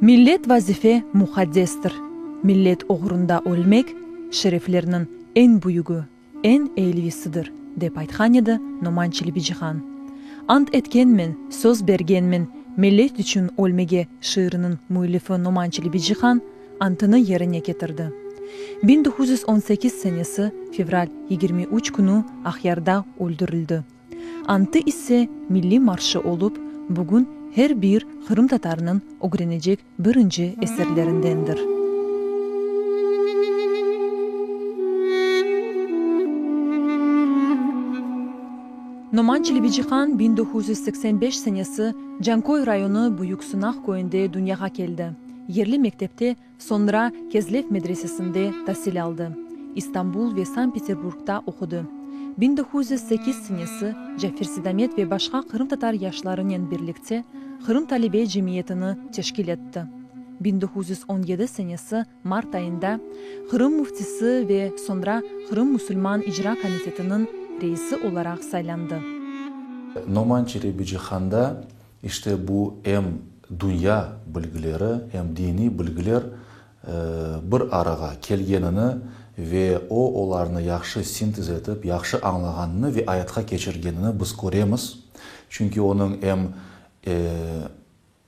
Millet vazife muqaddestir. Millet oğrunda ölmek, şereflerniñ eñ büyügi. Eñ eylisidir, dep aytqan edi Noman Çelebicihan. Ant etkenmen, söz bergenmen millet içün ölmege şiiriniñ müellifi Noman Çelebicihan antını yerine ketirdi. Biñ doquz yüz on sekiz senesi fevral yigirmi üç künü Aqyarda öldürildi. Antı ise milliy marşı olıp, bugün her bir qırımtatarnıñ ögrenecek birinci eserlerindendir. Noman Çelebicihan biñ doquz yüz seksen beş senesi Canköy rayonı Büyük Sınaq köyünde dünyağa keldi. Yerli mektepte, soñra Kezlev medresesinde tasil aldı. İstanbul ve Sankt-Peterburgda oqudı. Biñ doquz yüz sekiz senesi Cafer Sedamet ve başqa qırımtatar yaşlarınen birlikte Qırım talebe cemiyetini teşkil etti. Biñ doquz yüz on yedi senesi mart ayında Qırım müftisi ve soñra Qırım musulman icra komitetiniñ reisi olaraq saylandı. Noman Çelebici handa işte bu em dünya bilgileri, em diniy bilgiler bir arağa kelgenini ve o, olarnı yahşı sintez etip, yahşı añlağanını ve ayatqa keçirgenini biz köremiz. Çünki onıñ em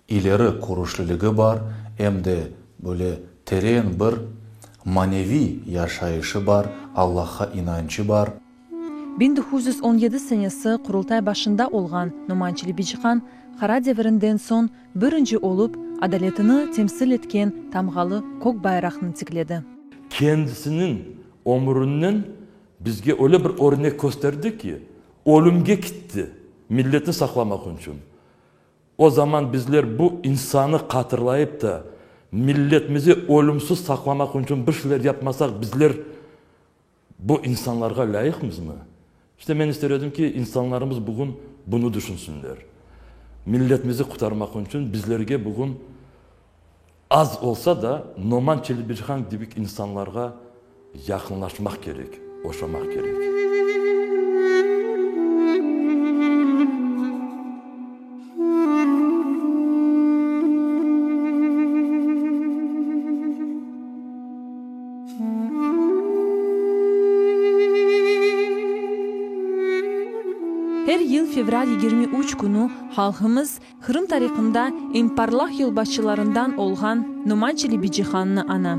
ileri körüşliligi bar, em de böyle teren bir maneviy yaşayışı bar, Allahqa inançı bar. Biñ doquz yüz on yedi senesi Qurultay başında olğan Noman Çelebiciqan qara devirinden soñ birinci olıp adaletini temsil etken tamğalı kök bayraqnı tikledi. Kendisiniñ ömrünen bizge öyle bir örnek kösterdi ki, ölümge kitti, milletni saqlamaq içün. O zaman bizler bu insanı qatırlayıp da, milletmizi ölümsiz saqlamaq içün bir şeyler yapmasaq, bizler. Bu insanlarğa lâyıqmızmı? İşte men ister edim ki, insanlarımız bugün bunı tüşünsinler. Milletmizi qutarmaqnıñ içün bizlerge bugün az olsa da Noman Çelebicihan kibik insanlarğa yaqınlaşmaq kerek, oşamaq kerek. Her yıl fevral yigirmi üç künü halqımız Qırım tariqında eñ parlaq yolbaşçılarından olğan Noman Çelebicihannı ana.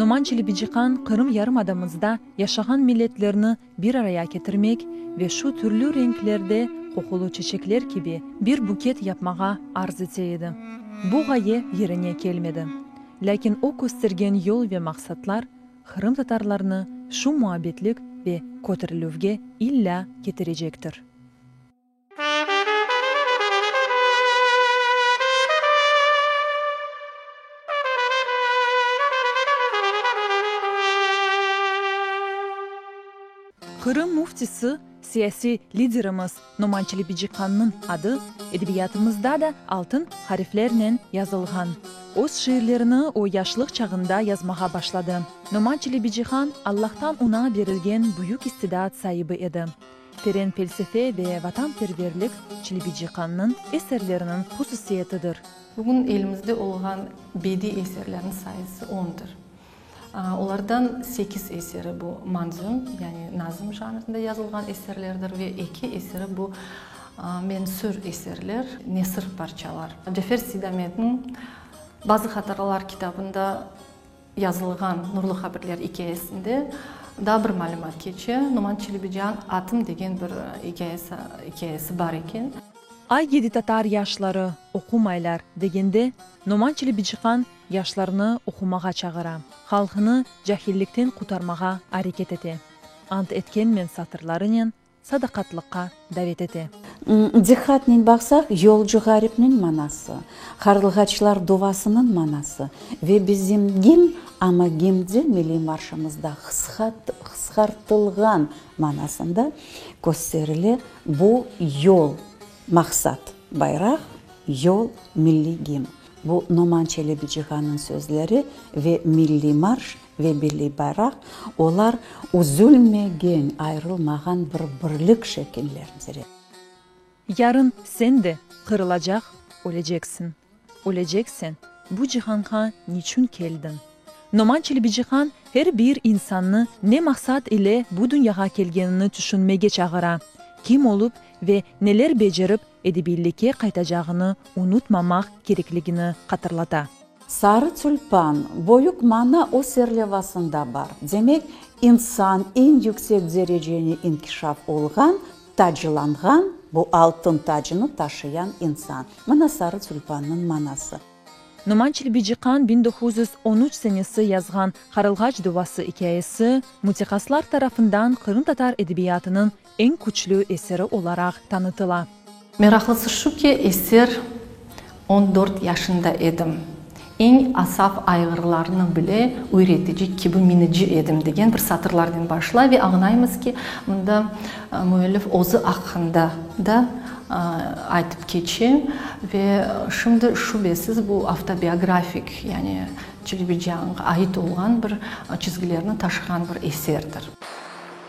Noman Çelebiciqan Qırım yarımadamızda yaşağan milletlerni bir araya ketirmek ve şu türlü renklerde qoqulı çeçekler kibi bir buket yapmağa arz ete edi. Bu ğaye yerine kelmedi. Lâkin o köstergen yol ve maqsatlar qırımtatarlarnı şu muabbetlik ve köterilüvge illâ ketirecektir. Qırım müftisi, siyasiy liderimiz Noman Çelebiciqannıñ adı edebiyatımızda da altın hariflernen yazılğan. Öz şiirlerini o, yaşlıq çağında yazmağa başladı. Noman Çelebiciqan, Allahtan oña berilgen büyük istidat saibi edi. Teren pelsefe ve vatanperverlik Çelebiciqannıñ eserleriniñ hususiyetidir. Bugün elimizde olğan bediy eserlerniñ sayısı ondır. Olardan sekiz eseri bu manzum, yani nazım janrında yazılğan eserlerdir ve eki eseri bu mensür eserler, nesir parçalar. Cafer Seydametniñ Bazı hatıralar kitabında. Yazılğan Nurlu Habirler ikâyesinde daa bir malümat keçe, Numan Çelebican atım degen bir ikâyesi bar eken. Ay yedi tatar yaşları, oqumaylar, degende, Numan Çelebiciqan yaşlarnı oqumağa çağıra, halqnı cahillikten qutarmağa areket ete. Ant etkenmen satırlarınen sadaqatlıqqa davet ete. Diqqatnen baqsaq, yolcu ğaripniñ manası, qarılğaçlar duvasınıñ manası ve bizim gim, amma gim de milliy marşımızda qısqartılğan manasında kösterile, bu yol, maqsat, bayraq, yol, milliy gim. Bu Noman Çelebicihan'ın sözleri ve milliy marş ve milliy bayraq, olar üzülmegen, ayrılmağan bir birlik şekillendir. Yarın sen de qırılacaq, öleceksin. Ölecek sen, bu cihanğa niçün keldiñ? Noman Çelebicihan her bir insannı ne maqsat ile bu dünyağa kelgenini tüşünmege çağıra, kim olup ve neler becerip edebiylikke qaytacağını unutmamaq kerekligini hatırlata. Sarı tülpan, boyuk mana o serlevasında bar. Demek, insan eñ yüksek dereceni inkişaf olğan, taclanğan, bu altın tacını taşıyan insan. Mına sarı tülpannıñ manası. Numan Çilbiçiqan biñ doquz yüz on üç senesi yazğan Qarılğaç duvası ikâyesi müteqaslar tarafından qırımtatar edebiyatınıñ eñ küçlü eseri olaraq tanıtıla. Meraqlısı şu ki, eser on dört yaşında edim, eñ asaf ayğırlarnı bile üyretici kibi minici edim degen bir satırlarnen başlay ve añlaymız ki, mında müellif özü aqqında da aytıp keçe ve şimdi şübesiz bu avtobiografik, yani Çelebiciyanğa ait olğan bir çizgilerni taşığan bir eserdir.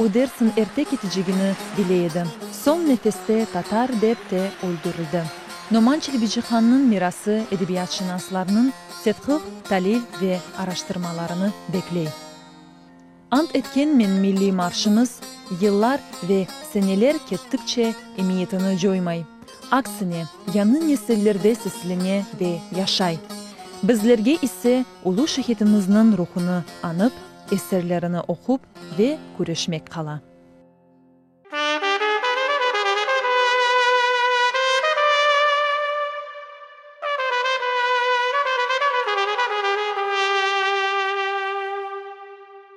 O Dersin erte ketecegini bile edi. Soñ nefeste tatar dep te öldürildi. Noman Çelebicihannıñ mirası edebiyatşınaslarnıñ tedqiq, talil ve araştırmalarını bekley. Ant etkenmen milliy marşımız yıllar ve seneler kettikçe emiyetini coymay, aksine, yañı nesillerde seslene ve yaşay. Bizlerge ise ulu şehitimizniñ ruhunı añıp, Eserlerini oqup ve küreşmek qala.